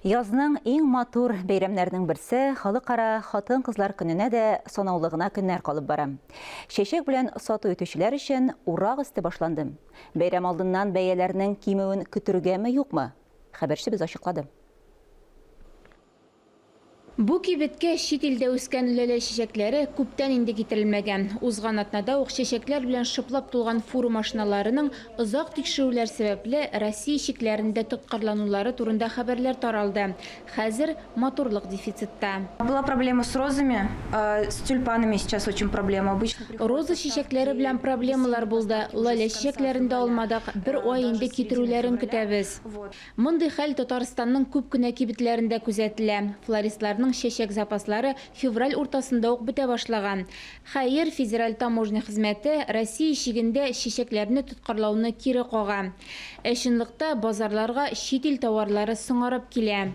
Язның иң матур бәйрәмнәренең берсе, Халыкара хатын-кызлар көненә дә санаулы гына көннәр калып бара. Чәчәк белән сату итүчеләр өчен урак өсте башланды. Бәйрәм алдыннан бәяләрнең кимүен көтергәме-юкмы? Хәбәрчебез ачыклады. Бу кибеткә чит илдә үскән ләлә чәчәкләре күптән инде китерелмәгән. Узган атнада ук чәчәкләр белән шыплап тулган фуру машиналарының озак тикшерүләр сәбәпле Россия чикләрендә тоткарланулары турында хәбәрләр таралды. Хәзер матурлык дефицитта. Была проблема с розами, с тюльпанами сейчас очень проблема, обычно приходят поставки. Роза чәчәкләре белән проблемалар булды, лалә чәчәкләрен дә алмадык, бер ай инде китерүләрен көтәбез. Мондый хәл Татарстанның күп кенә кибетләрендә күзәтелә. Флористларның чәчәк запаслары февраль уртасында ук бетә башлаган. Хәер, федераль таможня хезмәте Россия чигендә чәчәкләрне тоткарлауны кире кага. Ә чынлыкта базарларга чит ил товарлары соңарып килә.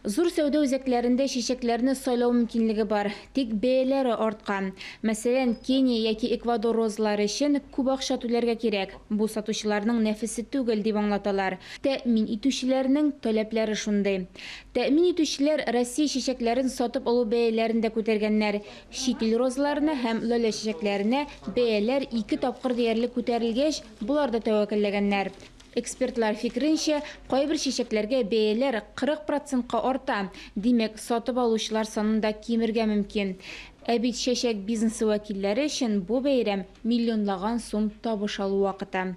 Зур сәүдә үзәкләрендә чәчәкләрне сайлау мөмкинлеге бар, тик бәяләре арткан. Мәсәлән, Кения яки Эквадор розалары өчен күп акча түләргә кирәк. Бу сатучыларның нәфесе түгел, дип аңлаталар. Тәэмин итүчеләрнең таләпләре шундый. Тәэмин итүчеләр Россия чәчәкләрен сатып алу бәяләрен дә күтәргәннәр. Чит ил розаларына һәм лалә чәчәкләренә бәяләр ике тапкыр диярлек күтәрелгәч, болар да тәвәкәлләгәннәр. Экспертлар фикеренчә, кайбер чәчәкләргә бәяләр 40 процентка арта, димәк, сатып алучылар санын да кимергә мөмкин. Ә бит чәчәк бизнесы вәкилләре өчен бу бәйрәм миллионлаган сум табыш алу вакыты.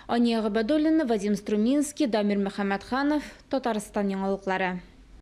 Ания Гобәдуллина, Вадим Струминский, Дамир Мөхәммәтханов, Татарстан яңалыклары.